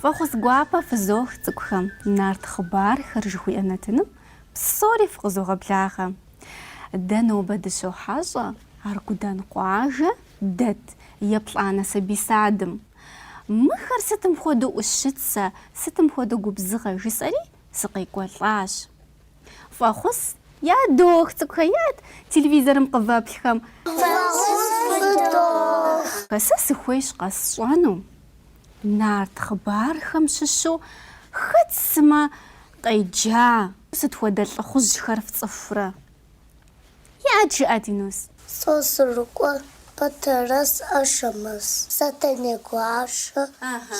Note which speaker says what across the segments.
Speaker 1: Фӏэхъус гуапэ фызох цӏыкӏухэм нарт хъыбархэр жыхуиӏэ нэтыным псори фыкъызогъэблагъэ. Дэ нобэ дыщохьэщӏэ Аргудан къуажэ дэт еплӏанэ сабий садым. Мыхэр сытым хуэдэу ӏущыцэ, сытым хуэдэу губзыгъэ, жысӏэри, сыкъекӏуэлӏащ. Фӏэхъус ядох, цӏыкӏухэ, иӏэт, телевизорым къывэплъхэм. Фӏэхъус фыдох. Сэ сыхуейщ къэсщӏэну, нарт хъыбархэм щыщу хэт сымэ къеджа. Сыт хуэдэ лӏыхъужьхэр фцӏыхурэ? Иӏэт, жыӏэт, Юнус. Сосрыкъуэ,
Speaker 2: Батэрэз, Ашэмэз, Сэтэней гуащэ,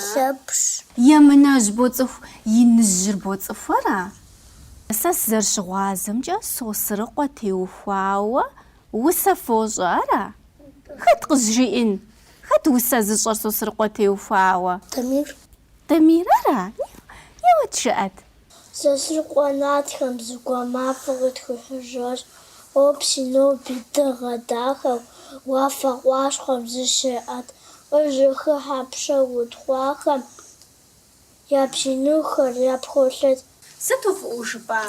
Speaker 2: Лъэпщ. Емынэжь
Speaker 1: боцӏыху, Иныжьыр боцӏыху, ара? Сэ сызэрыщыгъуазэмкӏэ Сосрыкъуэ теухуауэ усэ фощӏэ ара? Хэт къызжиӏэн? Хэт усэ зыщӏэр Сосрыкъуэ теухуауэ? Дамир. Дамир ара? Еуэт жыӏэт.
Speaker 2: Сосрыкъуэ нартхэм зэгуэр мафӏэ къытхуихьыжащ. Къопс ноби дыгъэ дахэу уафэ къащхъуэм зыщеӏэт къыжьэхыхьэ пшэ утхъуахэм я бзий нэхухэр япхолъэт. Сыту
Speaker 1: фӏыӏуэу жыпӏа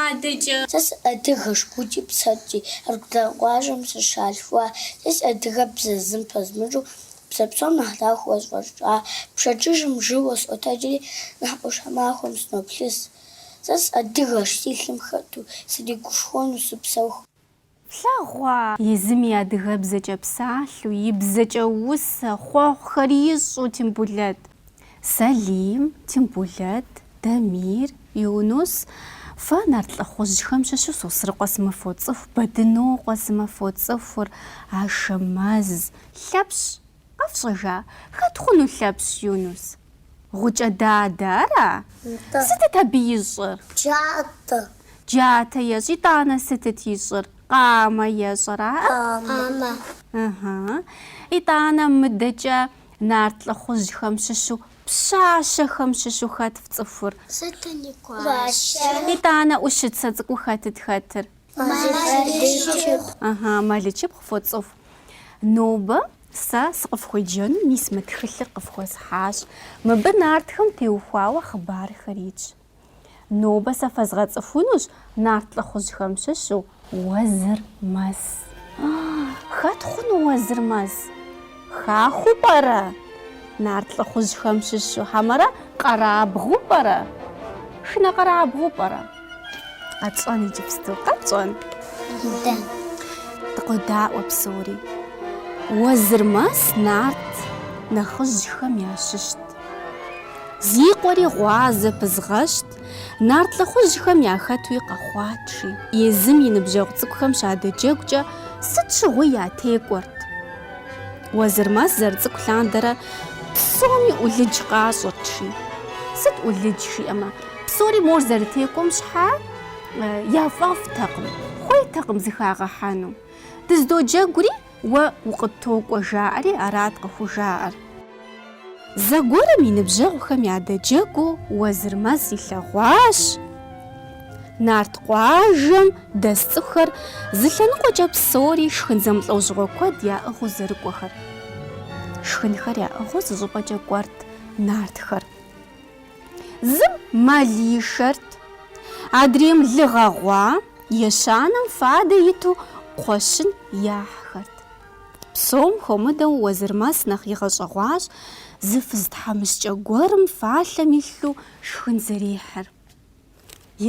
Speaker 1: адэкӏэ! Сэ
Speaker 2: сыадыгэщ гукӏи псэкӏи, Аргудан къуажэм сыщалъхуа. Сэ си адыгэбзэр зым пэзмыщӏу, Бзэ псом нэхъ дахэу сфӏэщӏа пщэдджыжьым жьыуэ сыкъотэджри, нэхъ Ӏуащхьэмахуэм сыноплъыж. Сэ сыадыгэщ, си лъым хэту сригушхуэну сыпсэуху.
Speaker 1: Флъагъуа? Езым и адыгэбзэкӏэ псалъэу, и бзэкӏэ усэ, хъуэхъухэри ищӏэу, Тембулэт. Сэлим, Тембулэт, Дамир, Юнус, Фэ нарт лӏыхъужьхэм щыщу Сосрыкъуэ сымэ фоцӏыху, Бэдынокъуэ сымэ фоцӏыхур, Ашэмэз. Лъэпщ, къэфщӏэжа? Хэт хъуну Лъэпщ, Юнус? Гъукӏэ дадэ ара? Нтӏэ. Сытыт абы ищӏыр? Джатэ. Джатэ ещӏ. Итӏанэ сытыт ищӏыр? Къамэ ещӏ ара? Къамэ. Ыхьы.
Speaker 2: Итӏанэ
Speaker 1: мыдэкӏэ Нарт лӏыхъужьхэм щыщу пщащэхэм щыщу хэт фцӏыхур? Сэтэней
Speaker 2: гуащэ?
Speaker 1: Итӏанэ ӏущыцэ цӏыкӏуу хэтыт хэтыр? Мэлычыпхъу. Ага, Мэлычыпхъу фоцӏыху. Нобэ сэ сыкъыфхуеджэну мис мы тхылъыр къыфхуэсхьащ. Мыбы нартхэм теухуауэ хъыбархэр итщ. Нобэ сэ фэзгъэцӏыхунущ нарт лӏыхъужьхэм щыщу Уэзырмэс. Хэт хъуну Уэзырмэс? Хахуэу пӏэрэ? Нарт лӏыхъужьхэм щыщу хьэмэрэ къэрабгъу пӏэрэ? Шынэ къэрабгъу пӏэрэ? Къэтщӏэн иджыпсту, къэтщӏэн. Дэ. Дыкъодаӏуэ псори. Уэзырмэс нарт нэхъыжьхэм ящыщт. Зи къуэри гъуазэ Пызыгъэшт, нарт лӏыхъужьхэм яхэтуи къэхъуат жи, езым и ныбжьэгъу цӏыкӏухэм щадэджэгукӏэ сыт щыгъуи ятекӏуэрт. Уэзырмэс зэрыцӏыкӏу лъандэрэ псоми ӏулыдж къащӏырт жи. Сыт ӏулыдж жиӏэмэ, псори мор зэрытекӏуэм щхьа яфӏэфӏтэкъым, хуейтэкъым зыхагъэхьэну. Дыздоджэгури, Уэ укъыттокӏуэ жаӏэри арат къыхужаӏэр. Зэгуэрым и ныбжьэгъухэм ядэджэгуу Уэзырмэс илъэгъуащ Нарт къуажэм дэс цӏыхухэр зы лъэныкъуэкӏэ псори шхын зэмылӏэужьыгъуэ куэд яӏыгъыу зэрыкӏуэхэр. Шхынхэр яӏыгъыу зы щӏыпӏэкӏэ кӏуэрт нартхэр. Зым мэл ишэрт. Адрейм лы гъэгъуа, ещанэм фадэ иту кхъуэщын яхьхэрт. Псом хуэмыдэу Уэзырмэс нэхъ игъэщӏэгъуащ зы фыз тхьэмыщкӏэ гуэрым фалъэм илъу шхын зэрихьыр.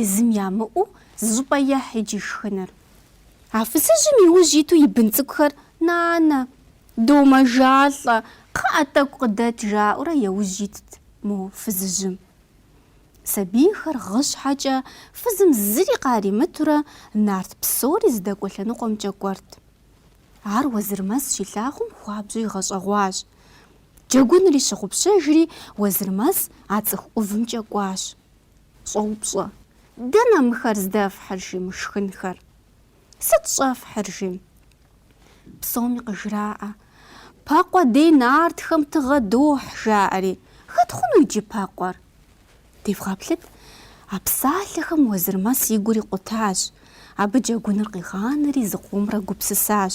Speaker 1: Езым ямыӏэу зы щӏыпӏэ ехь иджы шхыныр. А фызыжьым и ужь иту и бын цӏыкӏухэр, Нанэ, домэжалӏэ, кхъыӏэ, тӏэкӏу къыдэт, жаӏэурэ яужь итт. Мо фызыжьым. Сабийхэр гъы щхьэкӏэ фызым зыри къаримытурэ нарт псори здэкӏуэ лъэныкъуэмкӏэ кӏуэрт. Ар Уэзырмэс щилъагъум хуабжьу игъэщӏэгъуащ. Джэгунри щыгъупщэжри, Уэзырмэс а цӏыху ӏувымкӏэ кӏуащ. Щӏоупщӏэ, Дэнэ мыхэр здэфхьыр жи, мы шхынхэр? Сыт щӏэфхьыр, жи? Псоми къыжраӏэ. Пэкъуэ дей нартхэм тыгъэ дохь, жаӏэри. Хэт хъуну иджы Пэкъуэр? Девгъэплъыт, а псалъэхэм Уэзырмэс и гур икъутащ. Абы джэгуныр къигъанэри зыкъомрэ гупсысащ.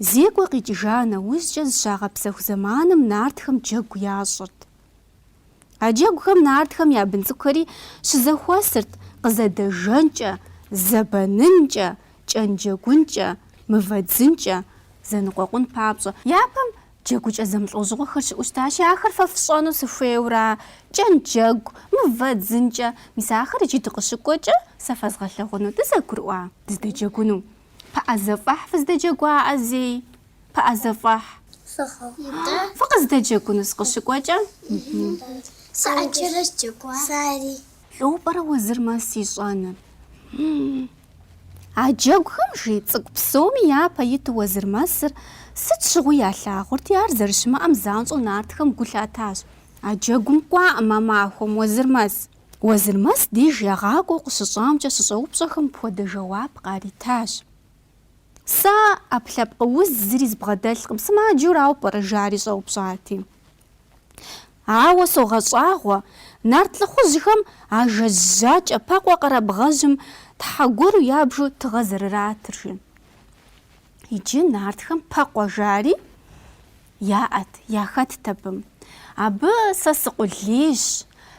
Speaker 1: Зекӏуэ къикӏыжа нэужькӏэ зыщагъэпсэху зэманым нартхэм джэгу ящӏырт. А джэгухэм нартхэм я бын цӏыкӏухэри щызэхуэсырт къызэдэжэнкӏэ, зэбэнынкӏэ, кӏэнджэгункӏэ, мывэдзынкӏэ зэныкъуэкъун папщӏэ. Япэм джэгукӏэ зэмылӏэужьыгъуэхэр щыӏэу щытащи, ахэр фэ фщӏэну сыхуейура, кӏэнджэгу, мывэдзынкӏэ? Мис ахэр иджы дыкъыщыкӏуэкӏэ сэ фэзгъэлъэгъуну, дызэгурыӏуа? Дыздэджэгуну? Пыӏэзэфӏэхь фыздэджэгуаӏэ зей? Пыӏэзэфӏэхь. Фыгъэ. Фыкъыздэджэгуну сыкъыщыкӏуэкӏэ? Сэ ӏэджэрэ
Speaker 2: сджэгуа. Сэри. Лӏо пӏэрэ
Speaker 1: Уэзырмэс ищӏэныр? А джэгухэм жи цӏыкӏу псоми япэ иту Уэзырмэсыр сыт щыгъуи ялъагъурти, ар зэрыщымыӏэм занщӏэу нартхэм гу лъатащ. А джэгум кӏуаӏым а махуэм Уэзырмэс. Уэзырмэс деж ягъакӏуэу къыщыщӏамкӏэ щыщӏэупщӏэхэм пхуэдэ жэуап къаритащ. Сэ ӏэпкълъэпкъ уз зыри збгъэдэлъкъым, сымаджэу арауэ пӏэрэ жари щӏэупщӏати. Ауэ согъэщӏагъуэ, нарт лӏыхъужьхэм а жэз жьакӏэ Пэкъуэ къэрабгъэжьым тхьэ гуэру ябжу тыгъэ зэрыратыр, жи. Иджы нартхэм Пэкъуэ жари. Яӏэт, яхэтт абым. Абы сэ сыкъулейщ,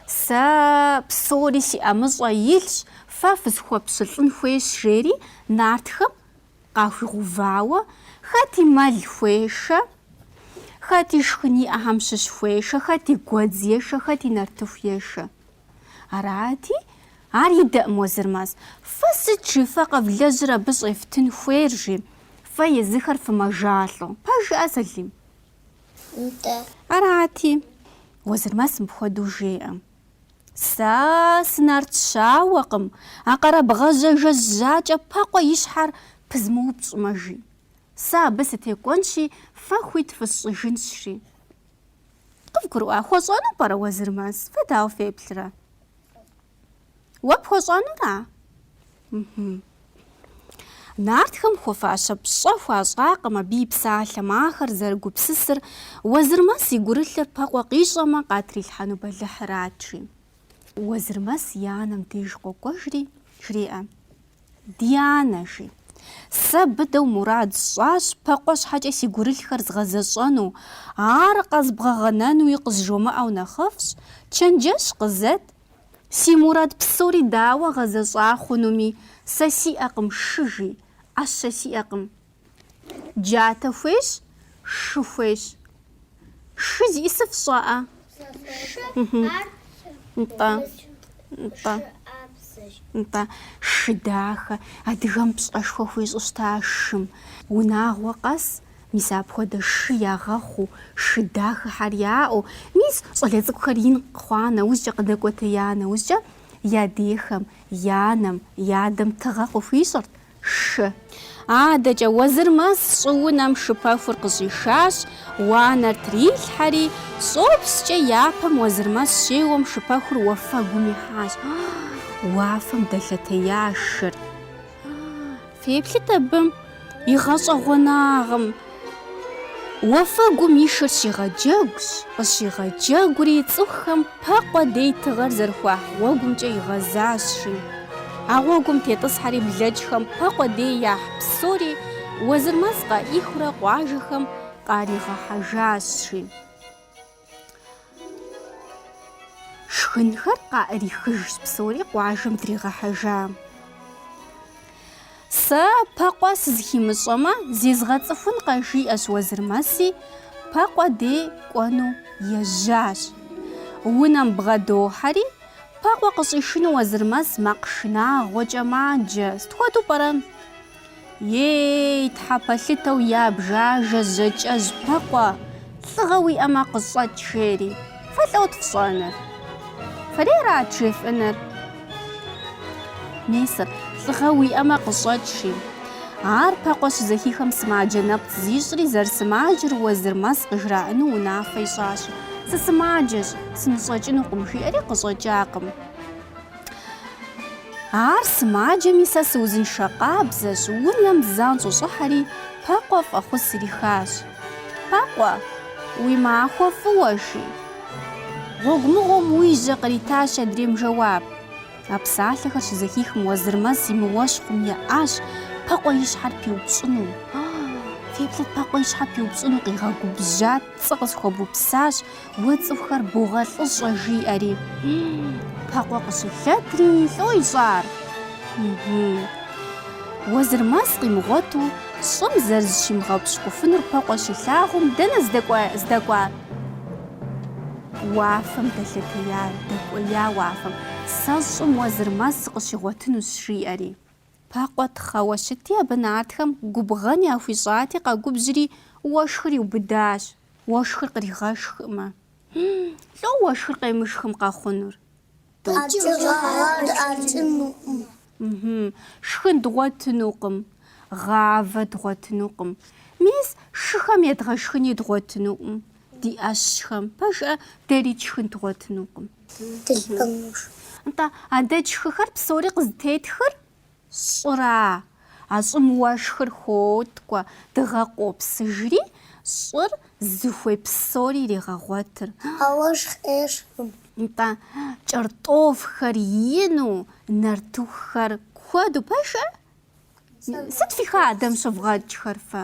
Speaker 1: сэ псори си ӏэмыщӏэ илъщ, фэ фысхуэпщылӏын хуейщ, жери нартхэм къахуигъэувауэ, хэти мэл хуешэ, хэти шхын иӏэхьэм щыщ хуешэ, хэти гуэдз ешэ, хэти нартыху ешэ. Арати, ар идэӏым Уэзырмэс, фэ сыт жи фэ къэвлэжьыр абы щӏефтын хуейр жи, фэ езыхэр фымэжалӏэу, пэжыӏэ Салим? Нтӏэ. Арати, Уэзырмэс мыпхуэдэу жеӏэ. Сэ сынарт щауэкъым, а къэрабгъэжьэ жэз жьакӏэ Пэкъуэ и щхьэр пызмыупщӏмэ жи. Сэ абы сытекӏуэнщи, фэ хуит фысщӏыжынщ жи. Къывгурыӏуа? Хуэщӏэну пӏэрэ Уэзырмэс? Фэ дауэ феплърэ? Уэ пхуэщӏэнура? Мхм. Нартхэм хуэфащэ пщӏэ хуащӏакъым абы и псалъэм ахэр зэрыгупсысыр, Уэзырмэс и гурылъыр Пэкъуэ къищӏэмэ къатрилъхьэну бэлыхьырат, жи. Уэзырмэс и анэм деж къокӏуэжри, жреӏэ. Ди анэ, жи. Сэ быдэу мурад сщӏащ Пэкъуэ щхьэкӏэ си гурылъхэр згъэзэщӏэну, ар къэзбгъэгъэнэнуи къызжумыӏэу нэхъыфӏщ, чэнджэщ къызэт, си мурад псори дауэ гъэзэщӏа хъунуми, сэ сиӏэкъым шы, жи, ӏэщэ сиӏэкъым. Джатэ хуейщ, шы хуейщ. Шы зищӏысыр фщӏэӏэ? Нтӏэ. Нтӏэ. Нтӏэ. Шы дахэ. Адыгэм пщӏэшхуэ хуищӏу щыта шым. Унагъуэ къэс, мис апхуэдэ шы ягъэхъуу, шы дахэхьэр яӏэу, мис щӏалэ цӏыкӏухэр ин хъуа нэужькӏэ, къыдэкӏуэтея нэужькӏэ, я дехэм, я анэм, я адэм тыгъэ къыхуищӏырт. Шы. Адэкӏэ Уэзырмэс щӏыунэм шыпэхур къыщӏишащ, уанэр трилъхьэри, щӏопскӏэ япэм Уэзырмэс щеуэм шыпэхур уафэгум ихьащ. Уафэм дэлъэтея шыр. Феплъыт абы и гъэщӏэгъуэнагъым. Уафэгум и шыр щигъэджэгущ, къыщигъэджэгури цӏыхухэм Пэкъуэ дей тыгъэр зэрыхуахь гъуэгумкӏэ игъэзащ, жи. А гъуэгум тетӏысхьэри блэкӏхэм Пэкъуэ дей яхь псори Уэзырмэс къаӏихыурэ къуажэхэм къаригъэхьэжащ, жи. Шхынхэр къаӏэрихыжщ псори къуажэм дригъэхьэжа. Сэ Пэкъуэ сызыхимыщӏэмэ, зезгъэцӏыхункъэ жиӏэщ Уэзырмэси, Пэкъуэ дей кӏуэну ежьащ. Унэм бгъэдохьэри, Пэкъуэ къыщӏишыну Уэзырмэс макъ шынагъуэкӏэ маджэ. Сыт хуэдэу пӏэрэ? Ей, тхьэ пэлъытэу ябж ажэ жьакӏэжь Пэкъуэ, лӏыгъэ уиӏэмэ къыщӏэкӏ, жери. Фэ лӏэут фщӏэныр. Фэри арат жефӏэныр. Месыр, лӏыгъэ уиӏэмэ къыщӏэкӏ, жи. Ар Пэкъуэ щызэхихэм сымаджэ нэпцӏ зищӏри, зэрысымаджэр Уэзырмэс къыжраӏыну унафэ ищӏащ. Сысымаджэщ, сыныщӏэкӏынукъым, жиӏэри къыщӏэкӏакъым. Ар сымаджэми сэ сыузыншэ къабзэщ, унэм занщӏэу щӏыхьэри, Пэкъуэ фӏэхъус ирихащ. Пэкъуэ, уи махуэ фӏыуэ, жи. Гъуэгу мыгъуэм уежьэ къритащ адрейм жэуап. А псалъэхэр щызэхихым Уэзырмэс и мыуэщхъум еӏащ Пэкъуэ и щхьэр пиупщӏыну. Феплъыт Пэкъуэ и щхьэр пиупщӏыну, къигъэгубжьат, цӏэ къысхуэбупсащ. Уэ цӏыхухэр богъэлӏыщӏэ жиӏэри. Пэкъуэ къыщылъэтри лӏо ищӏар. Уэзырмэс къимыгъуэту щӏым зэрызыщимыгъэпщкӏуфынур Пэкъуэ щилъагъум, дэнэ здэкӏуар? Уафэм дэлъэтея, дэкӏуея уафэм. Сэ щӏым Уэзырмэс сыкъыщигъуэтынущ жиӏэри. Пэкъуэ тхьэуэ щытти абы нартхэм губгъэн яхуищӏати къэгубжьри уэшхыр иубыдащ. Уэшхыр къригъэшхкъым. Лӏо уэшхыр къемышхым къэхъунур? Шхын дгъуэтынукъым. Гъавэ дгъуэтынукъым. Мис, шыхэм едгъэшхыни дгъуэтынукъым. Ди ӏэщхэм. Пэжӏэ, дэри тшхын дгъуэтынукъым. Нтӏэ, а дэ тшхыхэр псори къызытетхыр? Щӏыра? А щӏым уэшхыр хоткӏуэ, дыгъэ къопсыжри, щӏыр зыхуей псори иригъэгъуэтыр. А уэшх
Speaker 2: ӏеищэкъым.
Speaker 1: Нтӏэ, кӏэртӏофхэр ину, нартыхухэр куэду пэжыр? Сыт фи хадэм щывгъэкӏхэр фэ?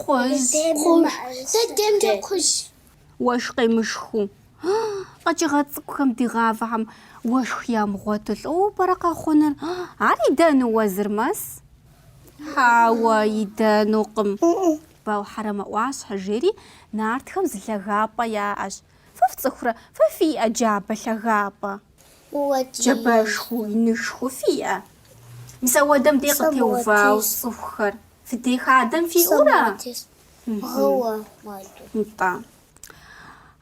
Speaker 1: Кхъуз.
Speaker 2: Кхъужь. Дэ демкӏэ кхъужьщ.
Speaker 1: Уэшх къемышхыу. Къэкӏыгъэ цӏыкӏухэм ди гъавэхэм уэшх ямыгъуэту лӏоуэ пӏэрэ къэхъунур? Ар идэну Уэзырмэс? Хьэуэ, идэнукъым. Ауэ Хьэрэмэ ӏуащхьэ, жери, нартхэм зы лъагапӏэ яӏэщ. Фэ фцӏыхурэ? Фэ фиӏэ джабэ лъагапӏэ? Джабэшху, инышхуэ фиӏэ? Мис апхуэдэм дей къытеувауэ цӏыхухэр.
Speaker 2: Фи де хадэм фиӏэу ара? Бгъэуэ
Speaker 1: хуэдэу. Нтӏэ.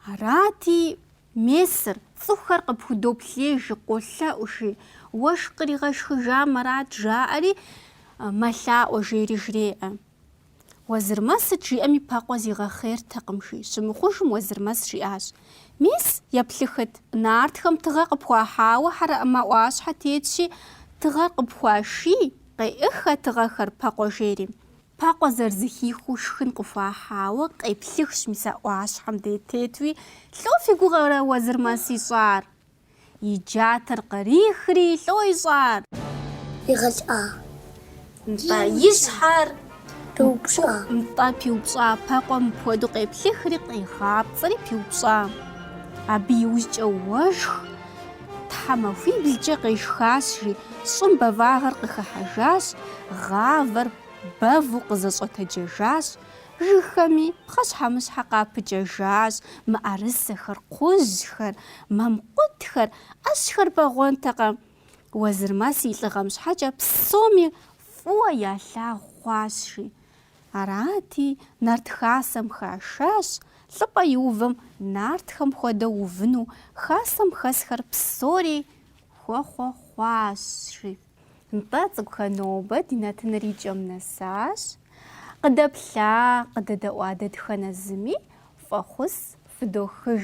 Speaker 1: Арати, месыр, цӏыхухэр къыпхудоплъей, жи, къолъэӏу, жи, Уэшх къригъэшхыжамэ арат, жаӏэри, мэлъаӏуэ жери жреӏэ. Уэзырмэс сыт жиӏэми Пэкъуэ зигъэхъейртэкъым, жи щымыхъужым Уэзырмэс жиӏащ, Мес, еплъыхыт. Нартхэм тыгъэ къыпхуахьауэ Хьэрэмэ ӏуащхьэ тетщи, тыгъэр къыпхуаши. Къеӏых а тыгъэхэр, Пэкъуэ, жери. Пэкъуэ зэрызэхихыу шхын къыхуахьауэ къеплъыхщ мис а ӏуащхьэм де тетуи, Лӏо фи гугъэрэ Уэзырмэс ищӏар? И джатэр кърихри, Лӏо ищӏар? Игъэлӏа?
Speaker 2: Нтӏэ,
Speaker 1: и щхьэр пиупщӏа?
Speaker 2: Нтӏэ, пиупщӏа.
Speaker 1: Пэкъуэ мыпхуэдэу къеплъыхри, къигъапцӏэри пиупщӏа. Абы иужькӏэ уэшх тхьэмахуиблкӏэ къешхащ, жи. Щӏым бэвагъыр къыхыхьэжащ, гъавэр бэву къызэщӏэтэджэжащ. Жыгхэми пхъэщхьэмыщхьэ къапыкӏэжащ, мыӏэрысэхэр, кхъужьхэр, мамкъутхэр, ӏэщхэр бэгъуэнтэкъэ? Уэзырмэс и лӏыгъэм щхьэкӏэ псоми фӏыуэ ялъагъу хъуащ, жи. Арати, Нарт Хасэм хашащ лӏыпӏэ иувэм нартхэм хуэдэу увыну, Хасэм хэсхэр псори хуэхъуэхъуащ, жи. Нтӏэ, цӏыкӏухэ, нобэ ди нэтыныр и кӏэм нэсащ. Къыдэплъа, къыдэдэӏуа дэтхэнэ зыми фӏэхъус фыдохыж.